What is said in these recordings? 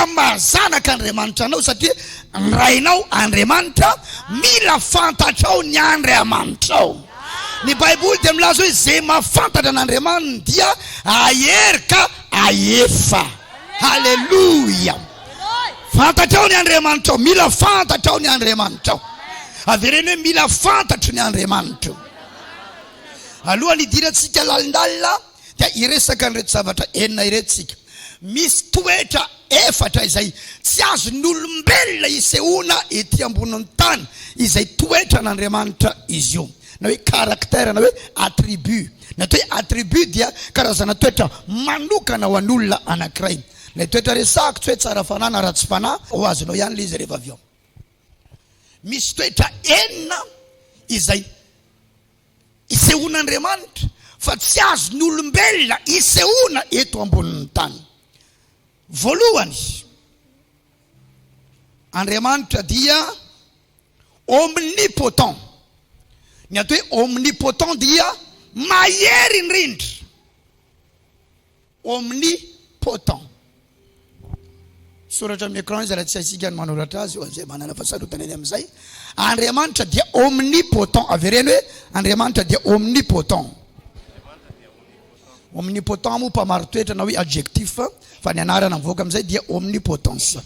amin'ny maha zanaka Andriamanitra anao satria ny Rainao Andriamanitra mila fantatrao ny Andriamanitrao. Ny Baiboly dia milaza hoe izay mahafantatra an'Andriamaniny dia ahery ka ahefa. Haleloia. Fantatrao ny Andriamanitrao, mila fantatrao ny Andriamanitrao. Avereno hoe mila fantatro ny Andriamanitro. Alohan'ny hidirantsika lalindalina dia hiresaka an'ireto zavatra enina ireto isika. Misy toetra efatra izay tsy azon'olombelona isehoana ety ambonin'ny tany, izay toetran'Andriamanitra izy io, na hoe caractère na hoe attribut. Ny atao hoe attribut dia karazana toetra manokana ho an'olona anankiray. Ilay toetra resahako tsy hoe tsara fanahy na ratsy fanahy, ho azonao ihany ilay izy rehefa avy eo. Misy toetra enina izay Isehoan'Andriamanitra fa tsy azon'ny olombelona isehoana eto ambonin'ny tany. Voalohany, Andriamanitra dia omnipotent. Ny atao hoe omnipotent dia mahery indrindra. Omnipotent. Soratra amin'ny écran izy raha tsy haintsika ny manoratra azy ho an'izay manana fahasarotan eny amin'izay. Andriamanitra dia omnipotent. Avereno hoe, Andriamanitra dia omnipotent. Omnipotent moa mpamaritoetra na hoe adjectif fa ny anarana mivoaka amin'izay dia omnipotence.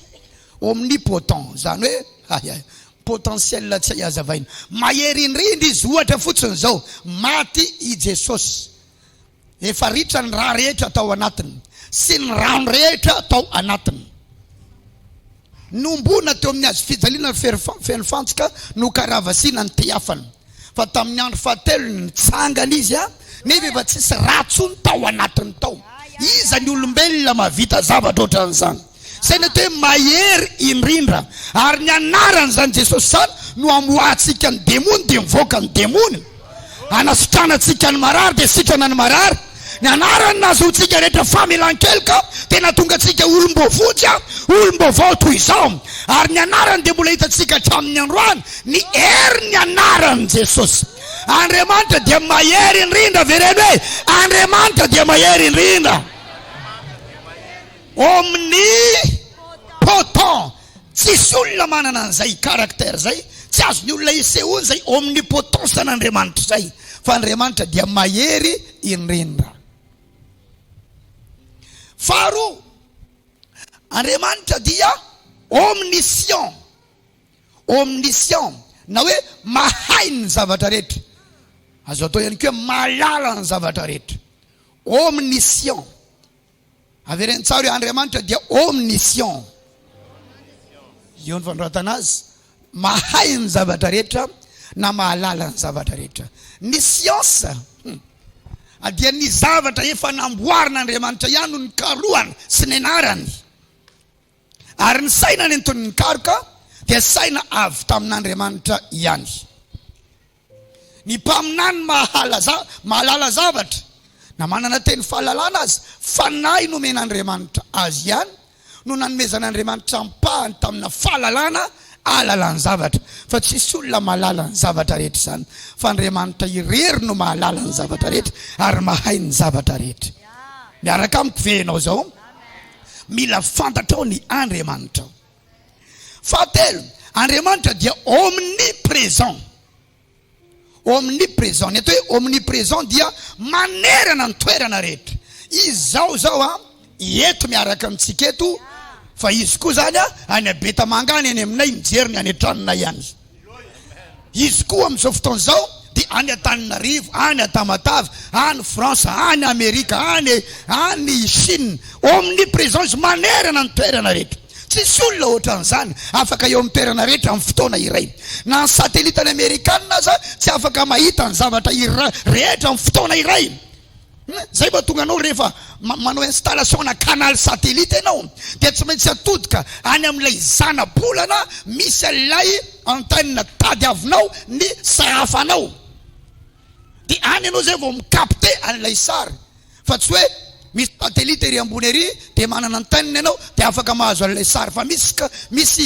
Omnipotent izany hoe, hay, potentiel tsy hay hazavaina. Mahery indrindra izy. Ohatra fotsiny izao, maty i Jesosy. Efa ritra ny rà rehetra tao anatiny sy ny rano rehetra tao anatiny. Nombona teo amin'ny hazo fijaliana feno fantsika no karavasina ny tehafany. Fa tamin'ny andro fahatelony nitsangana izy, nefa efa tsisy rà intsony tao anatiny tao. Iza ny olombelona mahavita zavatra ohatran'izany? Izay no atao hoe mahery indrindra. Ary ny anaran'izany Jesosy izany no amoahantsika ny demony dia mivoaka ny demony. Anasitranantsika ny marary dia sitrana ny marary. Ny anarany no ahazoantsika rehetra famelan-keloka dia nahatonga antsika olom-boavonjy, olom-baovao toy izao. Ary ny anarany dia mbola hitantsika hatramin'ny androany ny herin'ny anaran'i Jesosy. Andriamanitra dia mahery indrindra, avereno hoe Andriamanitra dia mahery indrindra. Omnipotent! Tsisy olona manana an'izay caractère izay, tsy azon'ny olona isehoana izay omnipotence an'Andriamanitra izay, fa Andriamanitra dia mahery indrindra. Faharoa, Andriamanitra dia omniscient, omniscient, na hoe mahay ny zavatra rehetra, azo atao ihany koa hoe mahalala ny zavatra rehetra, omniscient. Avereno tsara io Andriamanitra dia omniscient. Eo ny fanoratana azy. Mahay ny zavatra rehetra na mahalala ny zavatra rehetra. Ny siansa dia ny zavatra efa namboarin'Andriamanitra ihany no nikarohany sy nenarany. Ary ny saina nentin'ny nikaroka dia saina avy tamin'Andriamanitra ihany. Ny mpaminany mahalala zavatra na manana teny fahalalana aza, fanahy nomen'Andriamanitra azy ihany no nanomezan'Andriamanitra ampahany tamina fahalalana ahalala ny zavatra fa tsisy olona mahalala ny zavatra rehetra izany fa Andriamanitra irery no mahalala ny zavatra rehetra ary mahay ny zavatra rehetra. Miaraka amiko ve ianao izao? Mila fantatrao ny Andriamanitrao. Fahatelo, Andriamanitra dia omnipresent. Omnipresent, ny atao hoe omnipresent dia manerana ny toerana rehetra. Izy izao zao a, eto miaraka amintsika eto, fa izy koa zany a, any Betamanga any, any aminay, mijery ny any an-tranonay any. Izy koa amin'izao fotoana izao dia any Antananarivo, any Antamatave, any France, any Amerika, any any Chine, omnipresence, manerana ny toerana rehetra. Tsisy olona ohatran'izany afaka eo amin'ny toerana rehetra amin'ny fotoana iray. Na ny satelitan'ny Amerikana aza tsy afaka mahita ny zavatra iray rehetra amin'ny fotoana iray. Zay vao tonga anao rehefa manao installation na canal satellite enao dia tsy maintsy atodika any amin'ilay zana-bolana misy an'ilay antenne tadiavinao ny sahafanao dia any enao zay vao mi-capte an'ilay sary fa tsy hoe misy satellite ery ambony ery dia manana antenne enao dia afaka mahazo an'ilay sary fa misy misy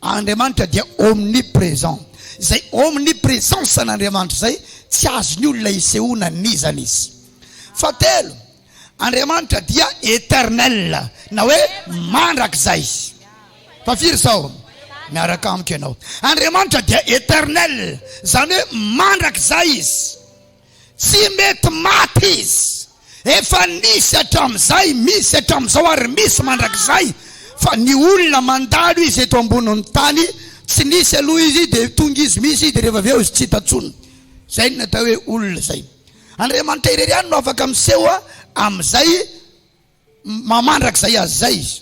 Andriamanitra dia omnipresent. Izay omnipresence an'Andriamanitra izay, tsy azon'ny olona isehoana anizany izy. Fahatelo, Andriamanitra dia eternel, na hoe mandrakizay. Fa firy izao miaraka amiko ianao? Andriamanitra dia eternel, izany hoe mandrakizay izy. Tsy mety maty izy. Efa nisy hatramin'izay, misy hatramin'izao ary misy mandrakizay fa ny olona mandalo izy eto ambonin'ny tany, tsy nisy aloha izy dia tonga izy, misy izy dia rehefa avy eo izy tsy hita intsony. Izay no atao hoe olona izay. Andriamanitra irery ihany no afaka miseho amin'izay Mamandrakizay azy izay izy.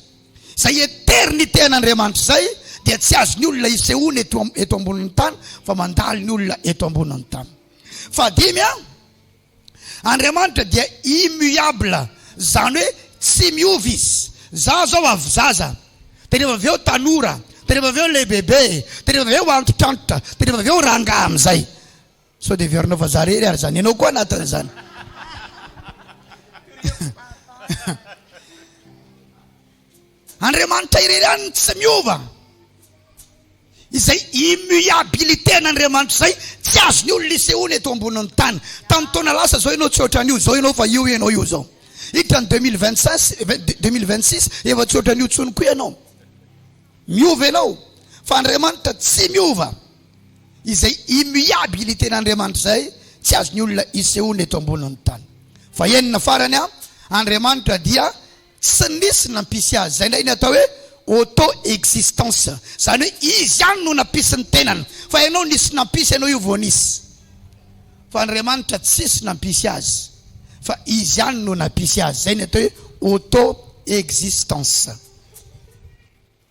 Izay eternite an'Andriamanitra izay dia tsy azon'ny olona isehoana eto eto ambonin'ny tany fa mandalo ny olona eto ambonin'ny tany. Fahadimy a, Andriamanitra dia immuable, izany hoe tsy miova izy. Za zao avy zaza, dia rehefa avy eo tanora, dia rehefa avy eo lehibebe, dia rehefa avy eo antitrantitra, dia rehefa avy eo rangahy amin'izay. Sao dia heverinao fa za irery ary izany. Ianao koa anatin'izany. Andriamanitra irery ihany no tsy miova. Izay immuabilité an'Andriamanitra izay tsy azon'ny olona isehoana eto ambonin'ny tany. Tamin'ny taona lasa izao ianao tsy ohatran'io, izao ianao fa io ianao io izao. Hiditra ny 2025, 2026 efa tsy ohatran'io intsony koa ianao. Miova ianao fa Andriamanitra tsy miova. izay immuabilité-n'Andriamanitra izay tsy azon'ny olona isehoana eto ambonin'ny tany. Fahenina farany, Andriamanitra dia tsy nisy nampisy Azy. Izay indray ny atao hoe auto-existence. Izany hoe Izy ihany no nampisy ny tenany. Fa ianao nisy nampisy anao io vao nisy. Fa Andriamanitra tsisy nampisy Azy fa Izy ihany no nampisy Azy. Izay ny atao hoe auto-existence.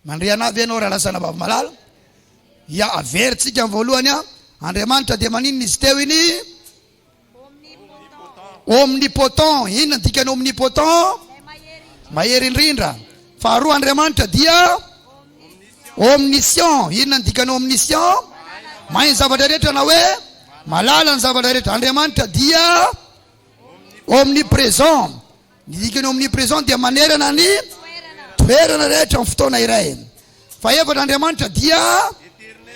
Mandre anah ve ianao Ralazana Vavmalala? Ia, averintsika ny voalohany an, Andriamanitra dia maninona izy teo iny? Omnipotent. Inona ny dikan'ny omnipotent? Mahery indrindra. Faharoa, Andriamanitra dia omniscient. Inona ny dikan'ny omniscient? Mahay ny zavatra rehetra na hoe malala ny zavatra rehetra. Andriamanitra dia omnipresent. Ny dikany omnipresent dia manerana ny toerana rehetra amin'ny fotoana iray. Fahefatra, Andriamanitra dia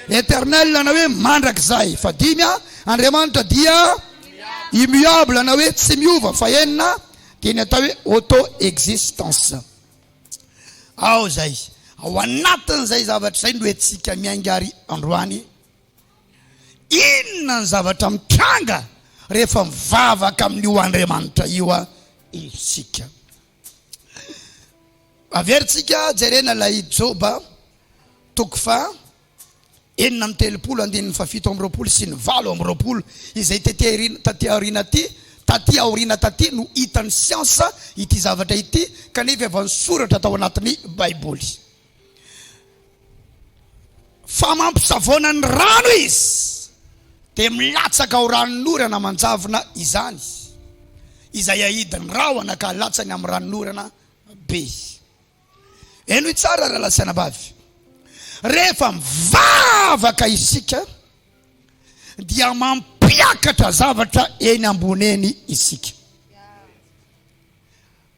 eternel na hoe mandrakizay. Fadimy, Andriamanitra dia immuable na hoe tsy miova. Fahenina, dia ny atao hoe auto existence. Ao izay, ao anatin'izay zavatra izay no entsika miainga ary androany. Inona ny zavatra mitranga rehefa mivavaka amin'io Andriamanitra io isika? Averintsika jerena ilay Joba toko faha enina amby telopolo andininy fahafito amby roapolo sy ny valo amby roapolo izay taty aoriana aty taty aoriana taty no hitan'ny siansa ity zavatra ity kanefa efa nisoratra tao anatin'ny Baiboly. Fa mampisavoana ny rano izy, dia milatsaka ao ranonorana manjavona izany, izay ahidin'ny rahona ka latsany amin'ny ranonorana be. Henoy tsara, rahalahy sy anabavy, rehefa mivavaka isika, dia mampiakatra zavatra eny ambony eny isika.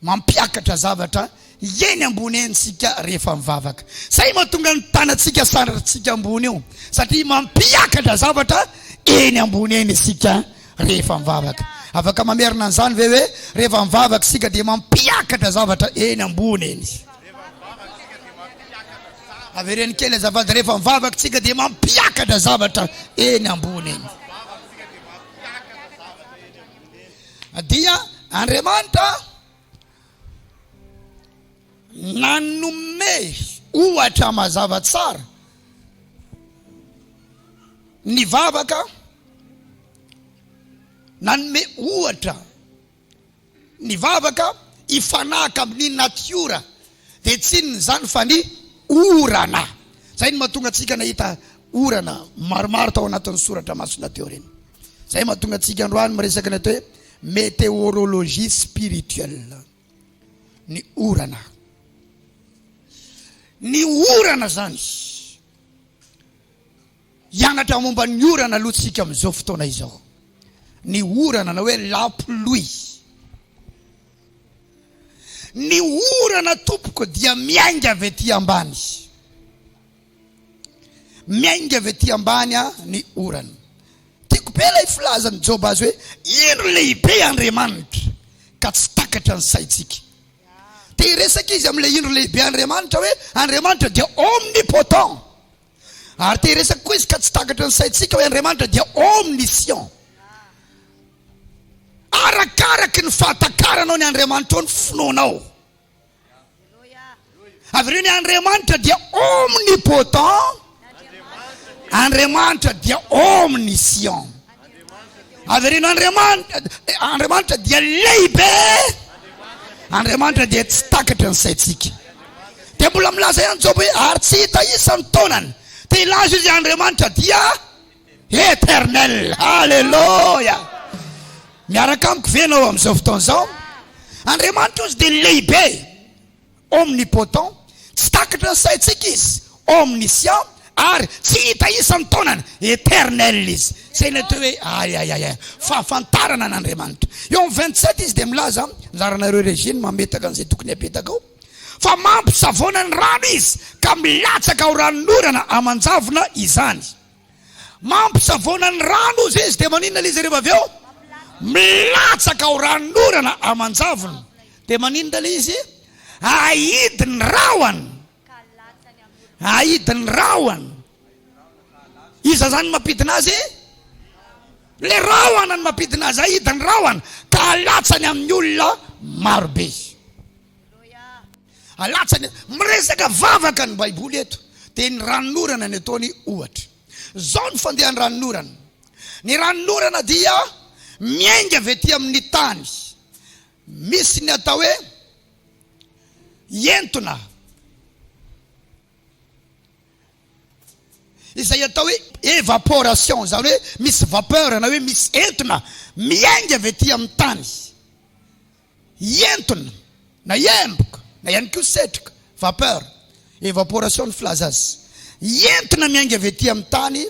Mampiakatra zavatra eny ambony eny isika rehefa mivavaka. Izay mahatonga ny tanantsika sandrarintsika ambony eo, satria mampiakatra zavatra eny ambony eny isika rehefa mivavaka. Afaka mamerina an'izany ve hoe rehefa mivavaka isika dia mampiakatra zavatra eny ambony eny isika? Avereno kely azafady, rehefa mivavaka isika dia mampiakatra zavatra eny ambony eny. Dia Andriamanitra nanome ohatra mazava tsara ny vavaka, nanome ohatra ny vavaka hifanahaka amin'ny natiora Dia tsy inona izany fa ny orana. Izay no mahatonga antsika nahita orana maromaro tao anatin'ny soratra masina teo ireny. Izay mahatonga antsika androany miresaka ny atao hoe météorologie spirituelle. Ny orana. Ny orana izany. Hianatra momba ny orana aloha tsika amin'izao fotoana izao. Ny orana na hoe la pluie. Ny orana tompoko dia miainga avy ety ambany. Miainga avy ety ambany a ny orana. Tiako be ilay filazan'i Joba azy hoe indro lehibe Andriamanitra ka tsy takatra ny saintsika. Te hiresaka izy amin'ilay indro lehibe Andriamanitra hoe Andriamanitra dia omnipotent. Ary te hiresaka koa izy ka tsy takatra ny saintsika hoe Andriamanitra dia omniscient. Arakaraky ny fahatakaranao ny Andriamanitra ao ny finoanao. Avereno hoe Andriamanitra dia omnipotent, Andriamanitra dia omniscient. Avereno Andriamanitra, Andriamanitra dia lehibe, Andriamanitra dia tsy takatry ny saintsika. Dia mbola milaza ihany Joba hoe ary tsy hita isa ny taonany. Dia hilaza izy Andriamanitra dia Eternel. Alléluia. Miaraka amiko ve ianao amin'izao fotoana izao? Andriamanitra ozy dia lehibe. Omnipotent. Tsy takatra ny saintsika izy. Omniscient ary tsy hita isan'ny taonana eternel izy zay nateo hoe ayayaya fahafantarana an'andriamanitra eo am vingt sept izy de milaza laranareo regine mametaka an'izay tokony apetaka ao fa mampisavoana ny rano izy ka milatsaka ao ranonorana amanjavona izany Mampisavoana ny rano ozy izy dia maninona lzy rehefa avy eo? Milatsaka ao ranon'orana aman-javony dia maninona lay izy? Ahidy ny rahona ahidy ny rahona iza zany mampidina azy? Le rahona ny mampidina azy ahidy ny rahona ka alatsany amin'ny olona marobe. Alatsany eto. Miresaka vavaka ny Baiboly eto, dia ny ranonorana no ataony ohatra. Izao ny fandehan'ny ranonorana, Ny ranonorana dia miainga avy aty amin'ny tany. Misy ny atao hoe entona, izay atao hoe evaporation, izany hoe misy vapeur na hoe misy entona miainga avy aty amin'ny tany. hientona na hiemboka na ihany koa setroka, vapeur, evaporation ny filaza azy, hientona miainga avy aty amin'ny tany,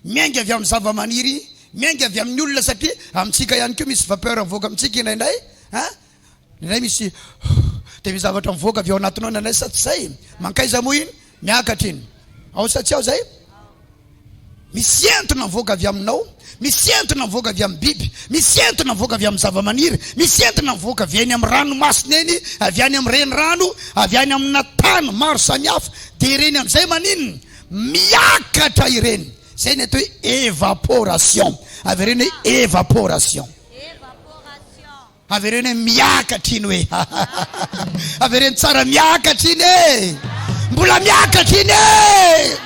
miainga avy amin'ny zavamaniry, miainga avy amin'ny olona satria amintsika ihany koa misy vapeur mivoaka amintsika indraindray an! indraindray misy dia misy zavatra mivoaka avy ao anatinao indraindray sa tsy izay? mankaiza moa iny? Miakatra iny. Ao sa tsy ao zay? Misy entona mivoaka avy aminao, misy entona mivoaka avy amin'ny biby, misy entona mivoaka avy amin'ny zavamaniry, misy entona mivoaka avy eny amin'ny ranomasina eny, avy any amin'ny renirano, avy any amina tany maro samihafa. Dia ireny amin'izay maninona? Miakatra ireny. Izay ny atao hoe evaporation. Avereno hoe evaporation. Avereno hoe miakatra iny hoe hahahaha avereno tsara miakatra iny e mbola miakatra iny e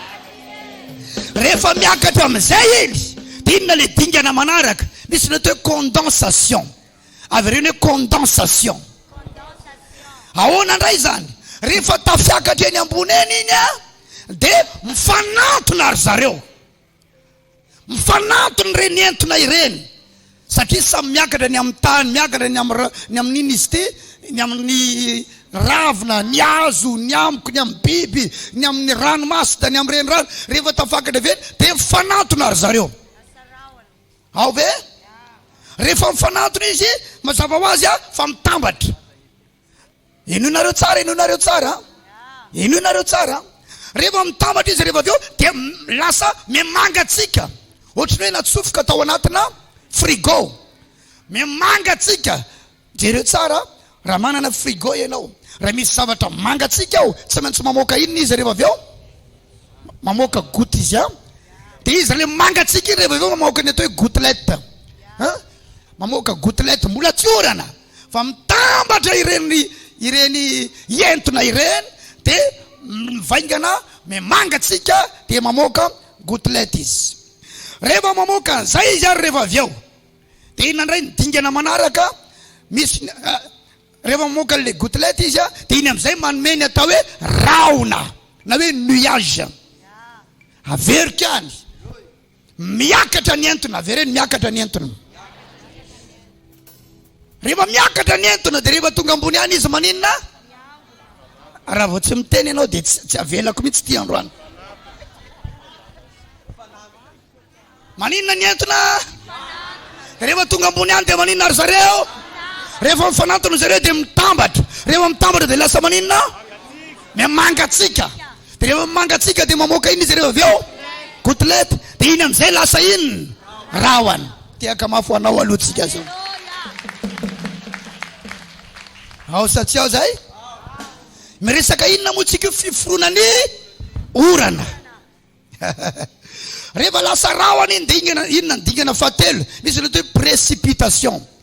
rehefa miakatra amin'izay iny dia inona ilay dingana manaraka misy ny atao hoe condensation avereno hoe condensation ahoana indray izany rehefa tafiakatra eny ambony eny iny a dia mifanantona ry zareo Mifanampy ny reny entona ireny satria samy miakatra ny amin'ny tany, miakatra ny amin'ny ra, ny amin'ny iny izy ity, ny amin'ny ravina, ny hazo, ny amiko, ny amin'ny biby, ny amin'ny ranomasina, ny amin'ny renirano. Rehefa tafakatra avy eny dia mifanantona ry zareo. Ao ve? Rehefa mifanantona izy, mazava ho azy fa mitambatra. Henoinareo tsara, henoinareo tsara, henoinareo tsara. Rehefa mitambatra izy, rehefa avy eo dia lasa mimangatsiaka, ohatran'ny hoe natsofoka tao anatina frigo, mimangatsiaka. Jereo tsara, raha manana frigo ianao, raha misy zavatra mangatsiaka ao, tsy maintsy mamoaka inona izy rehefa avy eo? Mamoaka goutte izy an. Dia izy ilay mangatsiaka iny rehefa avy eo mamoaka ny atao hoe gouttelette, mamoaka gouttelette mbola tsy orana. fa mitambatra ireny ireny entona ireny de mivaingana memanga tsika de mamoaka gouttelette izy rehefa mamoaka an'izay izy ary rehefa avy eo de inona indray ny dingana manaraka misy rehefa mamoaka le gouttelette izy a de iny am'izay manome ny atao hoe rahona na hoe nuage averika any Miakatra ny entona, avereno ny miakatra ny entona. Rehefa miakatra ny entona dia rehefa tonga ambony any izy maninona? Raha vao tsy miteny ianao dia tsy avelako mihitsy ity androany. Maninona ny entona? Rehefa tonga ambony any dia maninona ry zareo? Rehefa mifanantona zareo dia mitambatra. Rehefa mitambatra dia lasa maninona? Mangatsiaka. Dia rehefa mangatsiaka dia mamoaka inona izy ireo avy eo? Kotilety. Dia iny amin'izay lasa inona? Rahona. Tehaka mafy ho anao aloha tsika zao. Ao sa tsy ao zay? Miresaka inona moa tsika io? Fiforonan'ny orana. Rehefa lasa rahona iny dia inona ny dingana fahatelo? Misy ny atao hoe précipitation.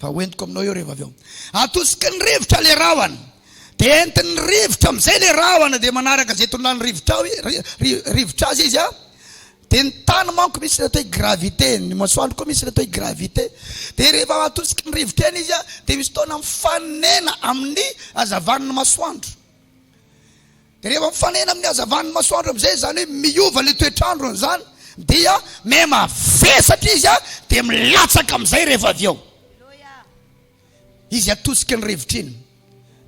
Fa ho entiko aminao eo rehefa avy eo. Atosiky ny rivotra ilay rahona. Dia entin'ny rivotra amin'izay ilay rahona, dia manaraka izay tololan'ny rivotra ao, rivotra azy izy an. Dia ny tany manko misy ilay atao hoe gravité, ny masoandro koa misy ilay atao hoe gravité. Dia rehefa atosiky ny rivotra eny izy an, dia misy fotoana mifanena amin'ny hazavan'ny masoandro. Dia rehefa mifanena amin'ny hazavan'ny masoandro amin'izay izany hoe miova ilay toetr'andro an'izany dia mema vesatra izy a dia milatsaka amin'izay rehefa avy eo izy atosiky ny rivotra iny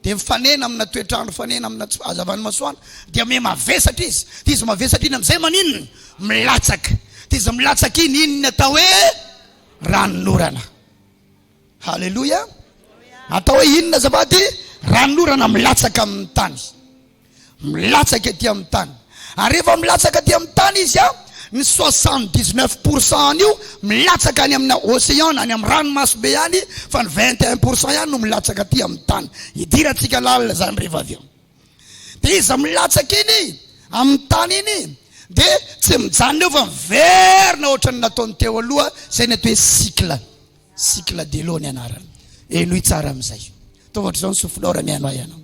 dia mifanena amina toetr'andro fanena amina tsy hazavan'ny masoandro dia mema vesatra izy dia izy mavesatra iny amin'izay maninona milatsaka dia izy milatsaka iny iny ny atao hoe ranonorana Haleloia! Atao hoe inona azafady? Ran'orana milatsaka amin'ny tany, milatsaka ety amin'ny tany. Ary rehefa milatsaka ety amin'ny tany izy a, ny soixante dix neuf pour cent an'io milatsaka any amina océan na any amin'ny ranomasobe any, fa ny vingt et un pour cent ihany no milatsaka aty amin'ny tany. Idirantsika lalina izany rehefa avy eo. Dia iza milatsaka iny amin'ny tany iny dia tsy mijanona eo fa miverina ohatran'ny nataony teo aloha, izay ny atao hoe cycle. Cycle de l'eau ny anarany. Henoy tsara amin'izay. Ataovy ohatr'izao ny souffleur raha mihaino ahy ianao.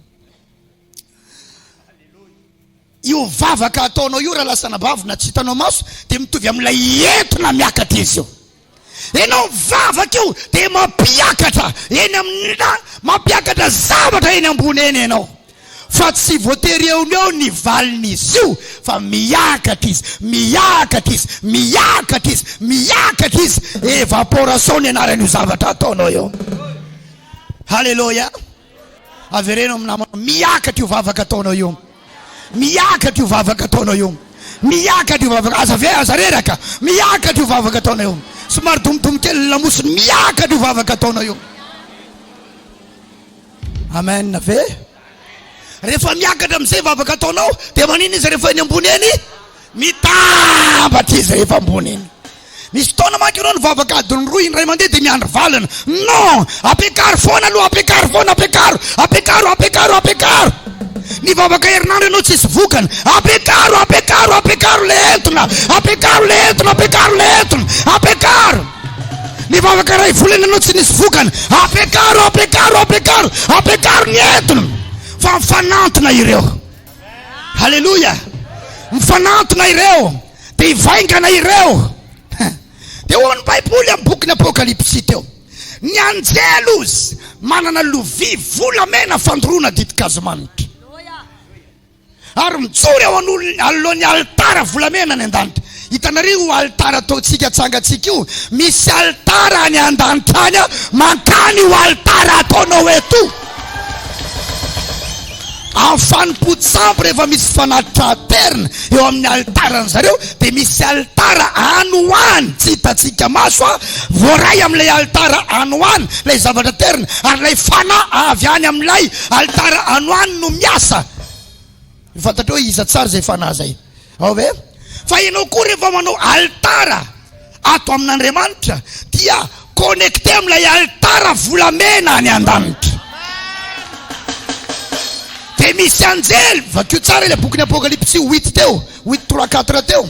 Io vavaka ataonao io raha lasa anabavy na tsy hitanao maso dia mitovy amin'ilay entona miakatra izy io. Ianao mivavaka io dia mampiakatra eny amin'ny mampiakatra zavatra eny ambony eny ianao. Fa tsy voatery eo no eo ny valin'izy io fa miakatra izy, miakatra izy, miakatra izy, miakatra izy. Evaporation ny anaran'io zavatra ataonao io. Haleloia. Avereno amin'ny namana, miakatra io vavaka ataonao io. Miakatra io vavaka ataonao io. Miakatra io vavaka, aza ve aza reraka. Miakatra io vavaka ataonao io. Somary domodomo kely ny lamosiny, miakatra io vavaka ataonao io. Amen ve? Rehefa miakatra amin'izay vavaka ataonao dia maninona izy rehefa eny ambony eny? Mitambatra izy rehefa ambony eny. Misy fotoana manko ianao ny vavaka adiny roa indray mandeha dia miandry valiny. Non! Ampiakaro foana aloha, ampiakaro foana, ampiakaro, ampiakaro, ampiakaro, ampiakaro. Ny vavaka herinandro ianao tsisy vokany. Ampiakaro, ampiakaro, ampiakaro le entona, ampiakaro le entona, ampiakaro le entona, ampiakaro. Nivavaka iray volana no tsy nisy vokany. Ampiakaro, ampiakaro, ampiakaro, ampiakaro ny entona. Fa mifanantona ireo. Haleloia. Mifanantona ireo. Dia hivaingana ireo. Dia hoy ny Baiboly amin'ny bokin'ny Apokalypsy teo. Ny anjely ozy manana lovia volamena fandoroana ditin-kazo manitra. ary mijoro eo anoloan'ny alitara volamena any an-danitra. Hitanareo io alitara ataontsika atsangantsika io? Misy alitara any an-danitra any mankany io alitara ataonao eto io. Amin'ny fanompoan-tsampy rehefa misy fanatitra aterina eo amin'ny alitaran'ny zareo dia misy alitara any ho any tsy hitantsika maso a voaray amin'ilay alitara any ho any ilay zavatra aterina ary ilay fanahy avy any amin'ilay Alitara ano any no miasa. Ny fantatrao hoe iza tsara izay fanahy izay. Ao ve? Fa ianao koa rehefa manao alitara ato amin'Andriamanitra dia connecté amin'ilay alitara volamena any an-danitra. Dia misy anjely, vakio tsara ilay bokin'ny Apokalypsy huit teo, huit trois quatre teo.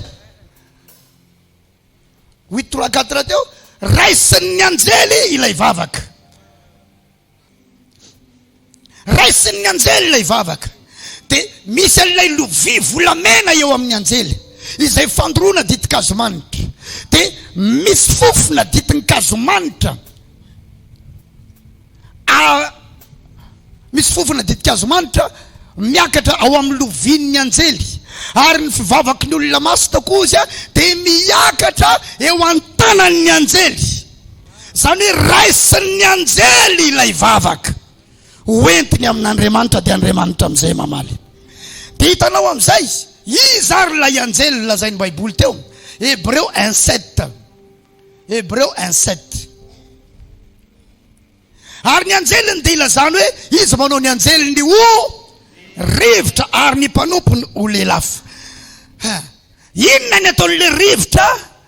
Huit trois quatre teo, raisin'ny anjely ilay vavaka. Raisin'ny anjely ilay vavaka. Dia misy an'ilay lovia volamena eo amin'ny anjely, izay fandoroana ditin-kazomanitra. Dia misy fofona ditin-kazomanitra, misy fofona ditin-kazomanitra miakatra ao amin'ny lovian'ny anjely. Ary ny fivavaky ny olona maso tokoa dia miakatra eo an-tanan'ny anjely. Izany hoe raisin'ny anjely ilay vavaka, hoentiny amin'Andriamanitra, dia Andriamanitra amin'izay mamaly. Dia hitanao amin'izay izy. Iza ary ilay anjely lazain'ny Baiboly teo? Hebreo un sept. Hebreo un sept. Ary ny anjeliny dia ilazany hoe izy manao ny anjeliny ho rivotra ary ny mpanompony ho lelafo. Inona ny ataon'ilay rivotra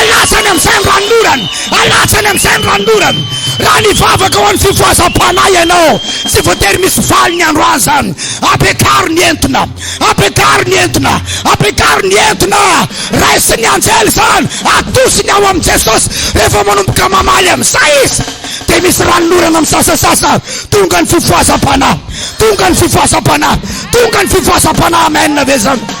Alatsany amin'izay ny ranon'orana, alatsany amin'izay ny ranon'orana. Raha nivavaka ho an'ny fifohazam-panahy ianao, tsy voatery misy valiny androany izany. Ampiakaro ny entona, ampiakaro ny entona, ampiakaro ny entona. Raisin'ny anjely izany, atosiny ao amin'i Jesosy. Rehefa manomboka mamaly amin'izay izy, dia misy ranon'orana misasasasa. Tonga ny fifohazam-panahy, tonga ny fifohazam-panahy, tonga ny fifohazam-panahy. Amen ve izany?